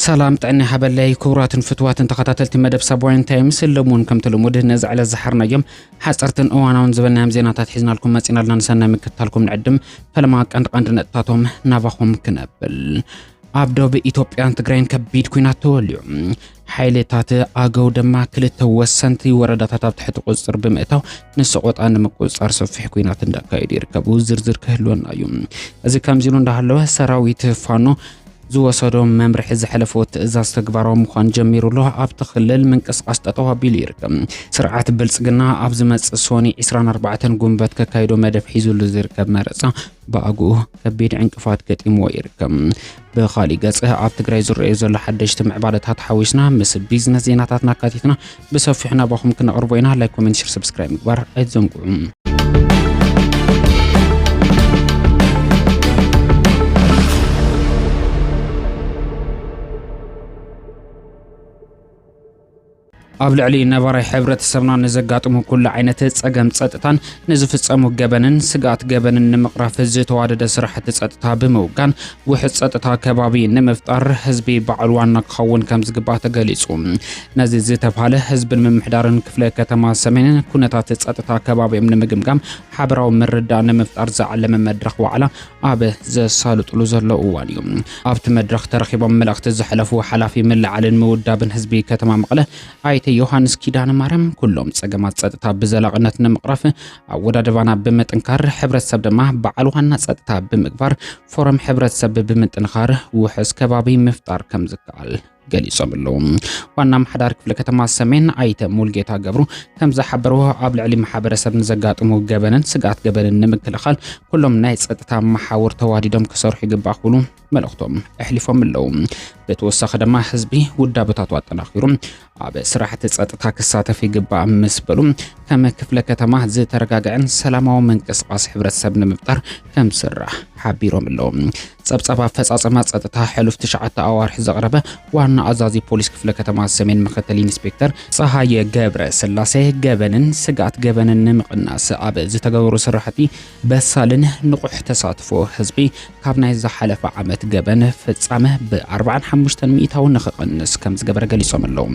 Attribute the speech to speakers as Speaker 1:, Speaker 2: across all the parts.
Speaker 1: ሰላም ጥዕና ሃበለይ ክቡራትን ፍትዋትን ተኸታተልቲ መደብ ሳብዋይን ታይምስ ለሙን ከምቲ ልሙድ ነዚ ዕለት ዝሓርናዮም ሓፀርትን እዋናውን ዝበናዮም ዜናታት ሒዝናልኩም መፂና ኣለና ንሰናይ ምክትታልኩም ንዕድም ፈለማ ቀንዲ ቀንዲ ነጥታቶም ናባኹም ክነብል ኣብ ዶብ ኢትዮጵያን ትግራይን ከቢድ ኩናት ተወልዩ ሓይልታት ኣገው ድማ ክልተ ወሰንቲ ወረዳታት ኣብ ትሕቲ ቁፅፅር ብምእታው ንሰቆጣ ንምቁፅፃር ሰፊሕ ኩናት እንዳካየዱ ይርከቡ። ዝርዝር ክህልወና እዩ። እዚ ከምዚሉ እንዳሃለወ ሰራዊት ፋኖ ዝወሰዶ መምርሒ ዝሐለፎ ትእዛዝ ተግባራዊ ምዃን ጀሚሩ ኣሎ። ኣብቲ ክልል ምንቅስቓስ ጠጠው ኣቢሉ ይርከብ። ስርዓት ብልፅግና ኣብ ዝመፅእ ሶኒ 24 ጉንበት ከካይዶ መደብ ሒዙሉ ዝርከብ መረፃ ብኣግኡ ከቢድ ዕንቅፋት ገጢምዎ ይርከብ። ብኻሊእ ገጽ ኣብ ትግራይ ዝረኣዩ ዘሎ ሓደሽቲ ምዕባለታት ሓዊስና ምስ ቢዝነስ ዜናታትና ኣካቲትና ብሰፊሑ ናባኹም ክነቕርቦ ኢና። ላይክ፣ ኮሜንት፣ ሸር፣ ሰብስክራይብ ምግባር ኣይትዘንግዑ። ኣብ ልዕሊ ነባራይ ሕብረተሰብና ንዘጋጥሙ ኩሉ ዓይነት ጸገም ጸጥታን ንዝፍጸሙ ገበንን ስግኣት ገበንን ንምቕራፍ ዝተዋደደ ስራሕቲ ጸጥታ ብምውጋን ውሕስ ጸጥታ ከባቢ ንምፍጣር ህዝቢ በዓል ዋና ክኸውን ከም ዝግባእ ተገሊጹ። ነዚ ዝተብሃለ ህዝብን ምምሕዳርን ክፍለ ከተማ ሰሜንን ኩነታት ጸጥታ ከባቢኦም ንምግምጋም ሓበራዊ ምርዳእ ንምፍጣር ዝዓለመ መድረኽ ዋዕላ ኣብ ዘሳልጡሉ ዘለዉ እዋን እዩ ኣብቲ መድረኽ ተረኺቦም መልእኽቲ ዘሕለፉ ሓላፊ ምልዓልን ምውዳብን ህዝቢ ከተማ መቐለ ኣይተ ዮሃንስ ኪዳነ ማርያም ኩሎም ጸገማት ጸጥታ ብዘላቕነት ንምቕራፍ ኣወዳድባና ብምጥንካር ሕብረተሰብ ድማ በዓል ዋና ጸጥታ ብምግባር ፎረም ሕብረተሰብ ብምጥንኻር ውሕስ ከባቢ ምፍጣር ከም ዝከኣል ገሊጾም ኣለዉ። ዋና ኣመሓዳሪ ክፍለ ከተማ ሰሜን ኣይተ ሙልጌታ ገብሩ ከም ዝሓበርዎ ኣብ ልዕሊ ማሕበረሰብ ንዘጋጥሙ ገበንን ስግኣት ገበንን ንምክልኻል ኩሎም ናይ ጸጥታ መሓውር ተዋዲዶም ክሰርሑ ይግባእ ክብሉ መልእኽቶም ኣሕሊፎም ኣለዉ። ብተወሳኺ ድማ ህዝቢ ውዳበታቱ ኣጠናኺሩ ኣብ ስራሕቲ ጸጥታ ክሳተፍ ይግባእ ምስ በሉ ከም ክፍለ ከተማ ዝተረጋግዐን ሰላማዊ ምንቅስቓስ ሕብረተሰብ ንምፍጣር ከም ዝስራሕ ሓቢሮም ኣለዉ። ጸብጻብ ኣፈጻጸማ ጸጥታ ሕሉፍ ትሽዓተ ኣዋርሕ ዘቕረበ ዋና ኣዛዚ ፖሊስ ክፍለ ከተማ ሰሜን ምክትል ኢንስፔክተር ጸሃየ ገብረ ስላሴ ገበንን ስግኣት ገበንን ንምቕናስ ኣብ ዝተገበሩ ስራሕቲ በሳልን ንቑሕ ተሳትፎ ህዝቢ ካብ ናይ ዝሓለፈ ዓመት ገበን ፍጻመ ብኣርባዓን ሓሙሽተን ሚኢታዊ ንኽቕንስ ከምዝገበረ ገሊጾም ኣለዉ።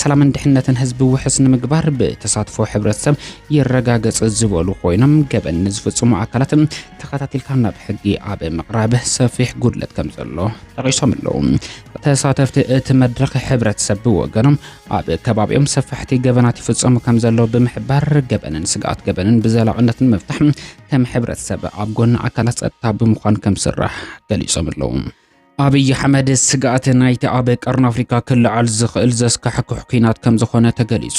Speaker 1: ሰላምን ድሕነትን ህዝቢ ውሕስ ንምግባር ብተሳትፎ ሕብረተሰብ ይረጋገጽ ዝበሉ ኮይኖም፣ ገበን ንዝፍጽሙ ኣካላት ተኸታቲልካ ናብ ሕጊ ኣብ ምቕራብ ሰፊሕ ጉድለት ከምዘሎ ጠቒሶም ኣለዉ። ተሳተፍቲ እቲ መድረኽ ሕብረተሰብ ብወገኖም ኣብ ከባቢኦም ሰፋሕቲ ገበናት ይፍጸሙ ከም ዘለዉ ብምሕባር ገበንን ስግኣት ገበንን ብዘላቕነት ንምፍታሕ ከም ሕብረተሰብ ኣብ ጎኒ ኣካላት ጸጥታ ብምዃን ከም ዝስራሕ ገሊጾም ኣለዉ። ኣብይ ኣሕመድ ስግኣት ናይቲ ኣብ ቀርኒ ኣፍሪካ ክለዓል ዝኽእል ዘስካሕክሕ ኲናት ከም ዝኾነ ተገሊጹ።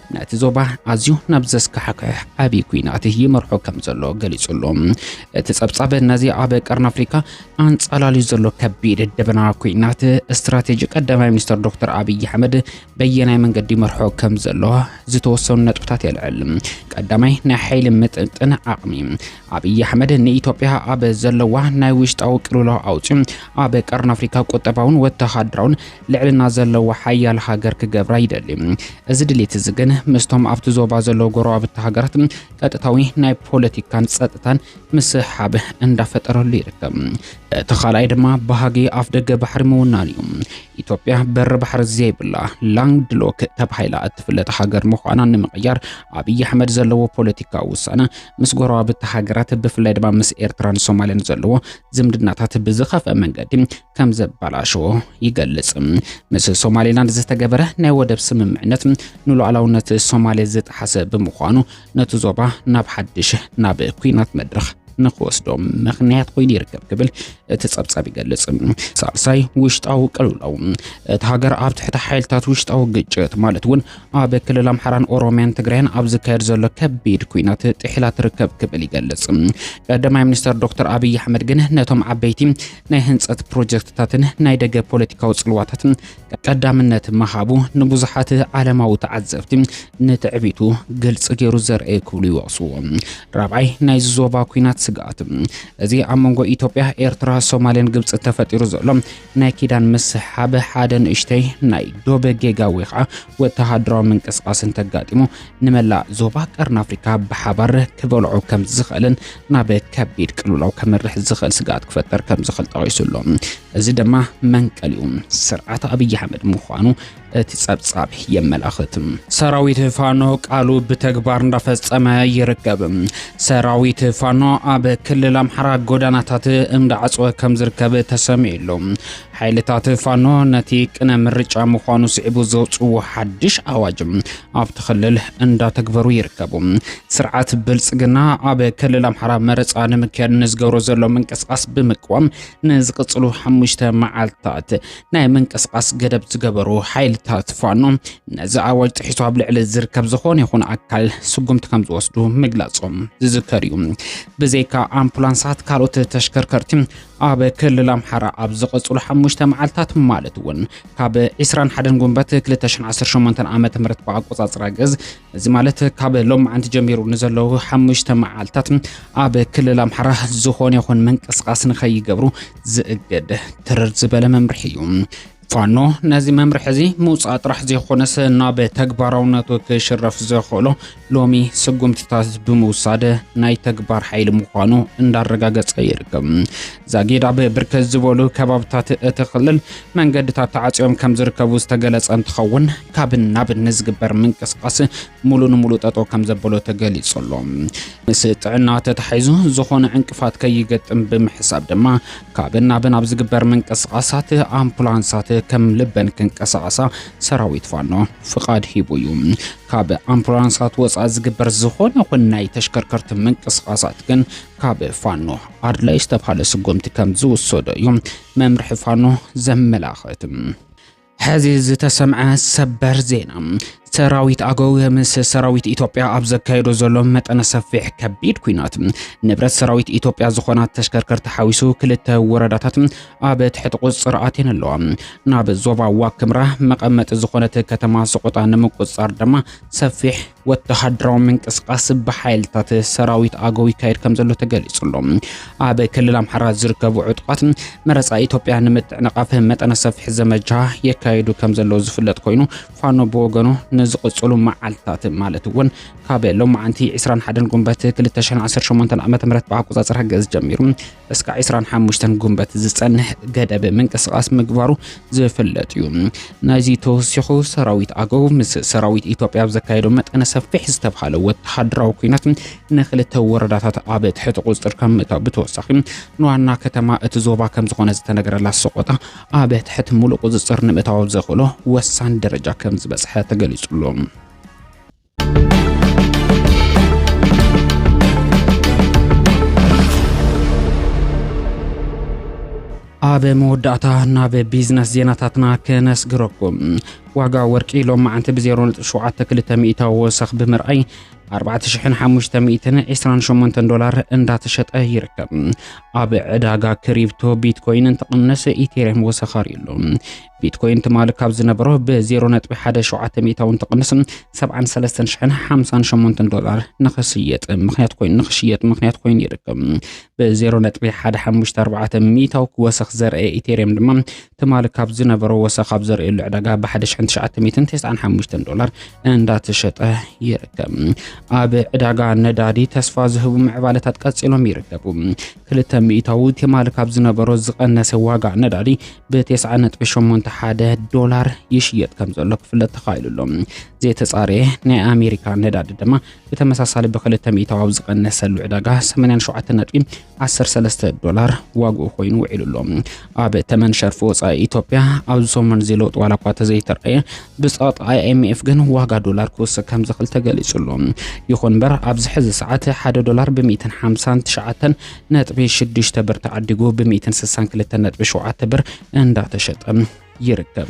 Speaker 1: ነቲ ዞባ ኣዝዩ ናብ ዘስካሕክሕ ዓብዪ ኲናት ይመርሖ ከም ዘሎ ገሊጹ ኣሎ። እቲ ጸብጻብ ነዚ ኣብ ቀርኒ ኣፍሪካ ኣንጻላልዩ ዘሎ ከቢድ ደበና ኲናት ስትራቴጂ ቀዳማይ ሚኒስትር ዶክተር ኣብዪ ኣሕመድ በየናይ መንገዲ ይመርሖ ከም ዘሎ ዝተወሰኑ ነጥብታት የልዕል። ቀዳማይ ናይ ሓይሊ ምጥጥን ዓቕሚ ኣብይ ኣሕመድ ንኢትዮጵያ ኣብ ዘለዋ ናይ ውሽጣዊ ቅልውላው ኣውፂኡ ኣብ ቀርኒ ኣፍሪካ ቁጠባውን ወተሃደራውን ልዕልና ዘለዋ ሓያል ሃገር ክገብራ ይደሊ። እዚ ድሌት እዚ ግን ምስቶም ኣብቲ ዞባ ዘለዉ ጎረባብቲ ሃገራት ቀጥታዊ ናይ ፖለቲካን ፀጥታን ምስሕሓብ እንዳፈጠረሉ ይርከብ። እቲ ካልኣይ ድማ ባህጊ ኣፍ ደገ ባሕሪ ምውናን እዩ። ኢትዮጵያ በሪ ባሕሪ ዘይብላ ላንድ ሎክ ተባሂላ እትፍለጥ ሃገር ምዃና ንምቕያር ኣብይ ኣሕመድ ዘለዎ ፖለቲካዊ ውሳነ ምስ ጎረባብቲ ሃገራት ብፍላይ ድማ ምስ ኤርትራን ሶማልን ዘለዎ ዝምድናታት ብዝኸፍአ መንገዲ ከም ዘበላሸዎ ይገልጽ። ምስ ሶማሌላንድ ዝተገበረ ናይ ወደብ ስምምዕነት ንሉዓላውነት ሶማሌ ዝጠሓሰ ብምዃኑ ነቲ ዞባ ናብ ሓድሽ ናብ ኩናት መድረኽ ንክወስዶም ምክንያት ኮይኑ ይርከብ ክብል እቲ ጸብጻብ ይገልጽ። ሳልሳይ ውሽጣዊ ቅልውላው እቲ ሃገር ኣብ ትሕቲ ሓይልታት ውሽጣዊ ግጭት ማለት እውን ኣብ ክልል ኣምሓራን ኦሮሚያን ትግራይን ኣብ ዝካየድ ዘሎ ከቢድ ኩናት ጥሒላ ትርከብ ክብል ይገልጽ። ቀዳማይ ሚኒስተር ዶክተር ኣብይ ኣሕመድ ግን ነቶም ዓበይቲ ናይ ህንጸት ፕሮጀክትታትን ናይ ደገ ፖለቲካዊ ጽልዋታትን ቀዳምነት ምሃቡ ንብዙሓት ዓለማዊ ተዓዘብቲ ንትዕቢቱ ግልፂ ገይሩ ዘርአየ ክብሉ ይወቕስዎ። ራብዓይ ናይ ዞባ ኩናት ስግኣት እዚ ኣብ መንጎ ኢትዮጵያ፣ ኤርትራ፣ ሶማልን ግብፂ ተፈጢሩ ዘሎ ናይ ኪዳን ምስሕሓብ ሓደ ንእሽተይ ናይ ዶብ ጌጋ ወይ ኸዓ ወተሃደራዊ ምንቅስቓስ እንተጋጢሙ ንመላእ ዞባ ቀርኒ ኣፍሪካ ብሓባር ክበልዖ ከም ዝኽእልን ናብ ከቢድ ቅልውላው ከምርሕ ዝኽእል ስግኣት ክፈጠር ከም ዝኽእል ጠቒሱ ኣሎ። እዚ ድማ መንቀሊኡ ስርዓት ኣብይ ኣሕመድ ምዃኑ እቲ ጸብጻብ የመላኽት። ሰራዊት ፋኖ ቃሉ ብተግባር እንዳፈጸመ ይርከብ። ሰራዊት ፋኖ ኣብ ክልል ኣምሓራ ጎዳናታት እንዳዓጽወ ከም ዝርከብ ተሰሚዑ ኣሎ። ሓይልታት ፋኖ ነቲ ቅነ ምርጫ ምዃኑ ስዒቡ ዘውጽዎ ሓድሽ ኣዋጅ ኣብቲ ክልል እንዳተግበሩ ይርከቡ። ስርዓት ብልጽግና ኣብ ክልል ኣምሓራ መረጻ ንምክያድ ንዝገብሮ ዘሎ ምንቅስቓስ ብምቅዋም ንዝቕጽሉ ሓሙሽተ መዓልታት ናይ ምንቅስቓስ ገደብ ዝገበሩ ሓይልታት ፋኖ ነዚ ኣዋጅ ጥሒሱ ኣብ ልዕሊ ዝርከብ ዝኾነ ይኹን ኣካል ስጉምቲ ከም ዝወስዱ ምግላጾም ዝዝከር እዩ። ብዘይካ ኣምቡላንሳት ካልኦት ተሽከርከርቲ ኣብ ክልል ኣምሓራ ኣብ ዝቐጽሉ ሓሙሽተ መዓልታት ማለት እውን ካብ 21 ጉንበት 2018 ዓ ም ብኣቆጻጽራ ግዝ እዚ ማለት ካብ ሎማዓንቲ ጀሚሩ ንዘለዉ ሓሙሽተ መዓልታት ኣብ ክልል ኣምሓራ ዝኾነ ይኹን ምንቅስቓስ ንኸይገብሩ ዝእግድ ትርር ዝበለ መምርሒ እዩ። ፋኖ ነዚ መምርሒ እዚ ምውፃእ ጥራሕ ዘይኮነስ ናብ ተግባራውነቱ ክሽረፍ ዘኽእሎ ሎሚ ስጉምትታት ብምውሳድ ናይ ተግባር ሓይሊ ምዃኑ እንዳረጋገፀ ይርከብ። ዛጊድ ኣብ ብርክት ዝበሉ ከባብታት እቲ ክልል መንገድታት ተዓፅዮም ከም ዝርከቡ ዝተገለፀ እንትኸውን ካብን ናብን ንዝግበር ምንቅስቓስ ሙሉ ንሙሉ ጠጠው ከም ዘበሎ ተገሊጹ ኣሎ። ምስ ጥዕና ተታሒዙ ዝኾነ ዕንቅፋት ከይገጥም ብምሕሳብ ድማ ካብን ናብን ኣብ ዝግበር ምንቅስቓሳት ኣምፑላንሳት ከም ልበን ክንቀሳቐሳ ሰራዊት ፋኖ ፍቓድ ሂቡ እዩ። ካብ ኣምፑላንሳት ወፃኢ ዝግበር ዝኾነ ይኹን ናይ ተሽከርከርቲ ምንቅስቓሳት ግን ካብ ፋኖ ኣድላይ ዝተብሃለ ስጉምቲ ከም ዝውሰዶ እዩ መምርሒ ፋኖ ዘመላኽት። ሕዚ ዝተሰምዐ ሰበር ዜና ሰራዊት ኣገው ምስ ሰራዊት ኢትዮጵያ ኣብ ዘካየዶ ዘሎ መጠነ ሰፊሕ ከቢድ ኩናት ንብረት ሰራዊት ኢትዮጵያ ዝኾና ተሽከርከርቲ ሓዊሱ ክልተ ወረዳታት ኣብ ትሕቲ ቁፅር ኣትየን ኣለዋ። ናብ ዞባ ዋክምራ መቐመጢ ዝኾነት ከተማ ሰቆጣ ንምቁፅፃር ድማ ሰፊሕ ወተሃደራዊ ምንቅስቓስ ብሓይልታት ሰራዊት ኣገው ይካየድ ከም ዘሎ ተገሊጹ ኣሎ። ኣብ ክልል ኣምሓራ ዝርከቡ ዕጡቓት መረፃ ኢትዮጵያ ንምጥዕንቓፍ መጠነ ሰፊሕ ዘመቻ የካየዱ ከም ዘለዉ ዝፍለጥ ኮይኑ ፋኖ ብወገኑ ንዝቕጽሉ መዓልትታት ማለት እውን ካብ ሎማዓንቲ 21 ጉንበት 2018 ዓ ም ብኣቆፃፅራ ግእዝ ጀሚሩ እስካዕ ዕስራን ሓሙሽተን ጉንበት ዝጸንሕ ገደብ ምንቅስቓስ ምግባሩ ዝፍለጥ እዩ። ናይዚ ተወሲኹ ሰራዊት ኣገው ምስ ሰራዊት ኢትዮጵያ ኣብ ዘካየዶ መጠነ ሰፊሕ ዝተብሃለ ወተሃደራዊ ኩናት ንክልተ ወረዳታት ኣብ ትሕቲ ቁጽጥር ከም ምእታው ብተወሳኺ ንዋና ከተማ እቲ ዞባ ከም ዝኾነ ዝተነገረላ ሰቆጣ ኣብ ትሕቲ ሙሉእ ቁጽጽር ንምእታው ዘኽእሎ ወሳኒ ደረጃ ከም ዝበጽሐ ተገሊጹ ኣሎ። ኣብ መወዳእታ ናብ ቢዝነስ ዜናታትና ከነስግረኩም ዋጋ ወርቂ ሎም መዓንቲ ብ0.72 ሚእታዊ ወሰኽ ብምርኣይ 4528 ዶላር እንዳተሸጠ ይርከብ። ኣብ ዕዳጋ ክሪፕቶ ቢትኮይን እንትቕንስ ኢቴሪየም ወሰኻሪ ኣሎ። ቢትኮይን ትማሊ ካብ ዝነበሮ ብ0.17 ሚእታውን ትቕንስ 73058 ዶላር ንኽስየጥ ምክንያት ኮይኑ ንኽሽየጥ ምክንያት ኮይኑ ይርከብ ብ0.154 ሚእታው ክወሰኽ ዘርአ ኢቴርየም ድማ ትማሊ ካብ ዝነበሮ ወሰኽ ኣብ ዘርእየሉ ዕዳጋ ብ1995 ዶላር እንዳተሸጠ ይርከብ ኣብ ዕዳጋ ነዳዲ ተስፋ ዝህቡ ምዕባለታት ቀፂሎም ይርከቡ ክልተ ሚእታዊ ትማሊ ካብ ዝነበሮ ዝቐነሰ ዋጋ ነዳዲ ብ9.81 ዶላር ይሽየጥ ከም ዘሎ ክፍለጥ ተኻኢሉ ኣሎ። ዘይተጻረየ ናይ ኣሜሪካ ነዳዲ ድማ ብተመሳሳሊ ብክልተ ሚእታዊ ኣብ ዝቐነሰሉ ዕዳጋ 87.13 ዶላር ዋግኡ ኮይኑ ውዒሉ ኣሎ። ኣብ ተመን ሸርፊ ወፃኢ ኢትዮጵያ ኣብዚ ሰሙን'ዚ ለውጢ ዋላ እኳ ተዘይተረኣየ ብፀቕጢ ኣይኤምኤፍ ግን ዋጋ ዶላር ክውስኽ ከም ዝኽእል ተገሊጹ ኣሎ። ይኹን እምበር ኣብዚ ሕዚ ሰዓት ሓደ ዶላር ብሚእትን ሓምሳን ትሽዓተን ነጥቢ ሽዱሽተ ብር ተዓዲጉ ብሚእትን ስሳን ክልተን ነጥቢ ሸውዓተ ብር እንዳተሸጠ ይርከብ።